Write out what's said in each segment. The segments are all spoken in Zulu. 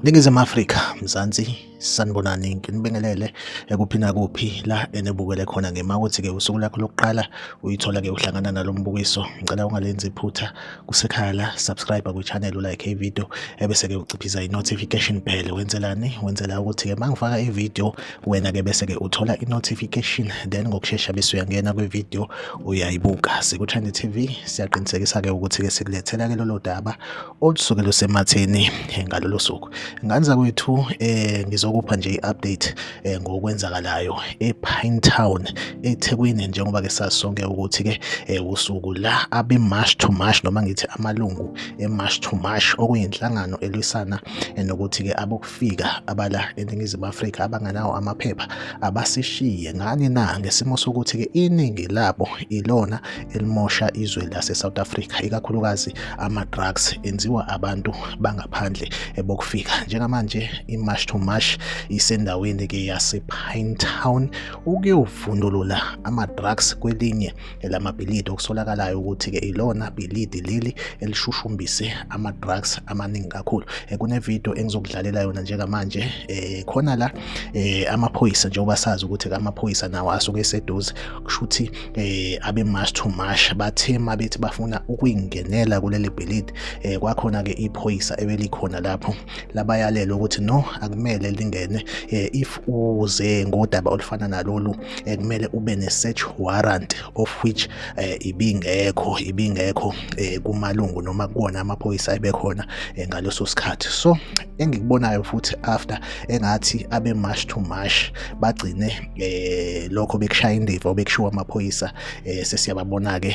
Ningizimu Afrika, Mzansi, sanibonani nginibingelele ekuphi nakuphi la enibukele khona ngema ukuthi ke usuku lakho lokuqala uyithola ke uhlangana nalombukiso ngicela ungalenzi iphutha kusekhaya la subscribe ku channel u like video ebese ke uciphiza i notification bell wenzelani wenzela ukuthi ke mangifaka i video wena ke bese ke uthola i-notification then ngokushesha bese uyangena kwi-video uyayibuka sikuthandi TV siyaqinisekisa ke ukuthi ke sikulethela ke lolo daba olusuke lusematheni eh, ngalolo suku nganza kwethu eh ngizokupha nje i-update eh, ngokwenzakalayo e-Pine Town eThekwini njengoba ke sasonke ukuthi ke eh, usuku la abe march to march noma ngithi amalungu e-march to march okuyinhlangano elwisana eh, nokuthi ke abo abokufika abala eNingizimu Afrika abanganawo amaphepha abasishiye ngani na ngesimo sokuthi ke iningi labo ilona elimosha izwe lase South Africa ikakhulukazi ama drugs enziwa abantu bangaphandle ebokufika njengamanje i March to March isendaweni ke yase Pinetown ukuyovundulula ama drugs kwelinye elamabhilidi okusolakalayo ukuthi-ke ilona bhilidi leli elishushumbise ama-drugs amaningi kakhulu eh, kunevidiyo engizokudlalela yona njengamanje um khona la um amaphoyisa njengoba sazi ukuthi-ke amaphoyisa nawo asuke eseduze kusho ukuthi um abe-mash to mash bathe ma bethi bafuna ukuyingenela kuleli bhilidi um kwakhona-ke iphoyisa ebelikhona lapho labayalelwa ukuthi no akumele lingene eh, if uze ngodaba olufana nalolu eh, kumele ube ne search warrant of which eh, ibingekho ibingekho kumalungu noma kuwona amaphoyisa abekhona ngaleso sikhathi so engikubonayo futhi after engathi abe march to march bagcine lokho bekushaya indiva bekushiwa amaphoyisa sesiyababona ke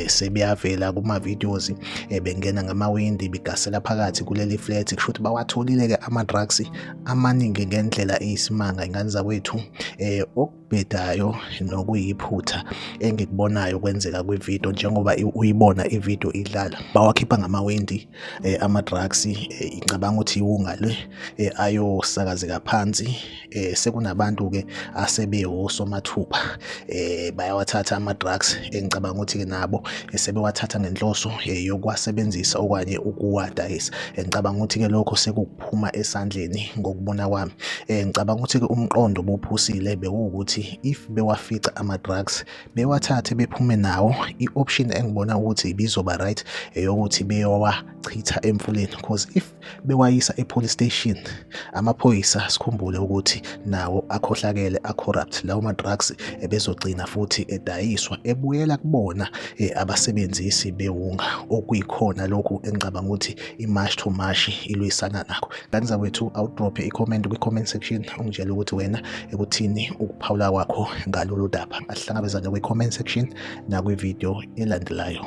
sebeyavela kuma videos eh, bengena ngamawindi bigasela phakathi kuleli flat kusho ukuthi bawatholile ke ama drugs amaningi ngendlela eyisimanga ingane zakwethu eh okubhedayo nokuyiphutha engikubonayo kwenzeka kwi video njengoba uyibona i video idlala bawakhipha ngamawindi eh, ama drugs eh, ngicabanga ukuthi iwunga le eh, ayosakazeka phansi eh sekunabantu ke asebewosomathupha eh bayawathatha ama drugs engicabanga ukuthi ke nabo eh, sebewathatha ngenhloso eh, yokwasebenzisa okanye ukuwadayisa engicabanga ukuthi ke lokho sekuphuma esandleni ngokubona kwami eh ngicabanga ukuthi ke umqondo bophusile bewukuthi if bewafica ama drugs bewathathe bephume nawo i option engibona ukuthi bizoba right eyokuthi beyowachitha emfuleni because if bewayisa epolice station amaphoyisa sikhumbule ukuthi nawo akhohlakele acorrupt lawo madrugs ebezogcina futhi edayiswa ebuyela kubona eh, abasebenzisi bewunga okuyikhona lokhu engicabanga ukuthi imash to mash ilwisana nakho kanti zakwethu awudrophe icomment kwi-comment section ungitshela ukuthi wena ekuthini ukuphawula kwakho ngalolu daba asihlangabezane kwi-comment section nakwi-video elandelayo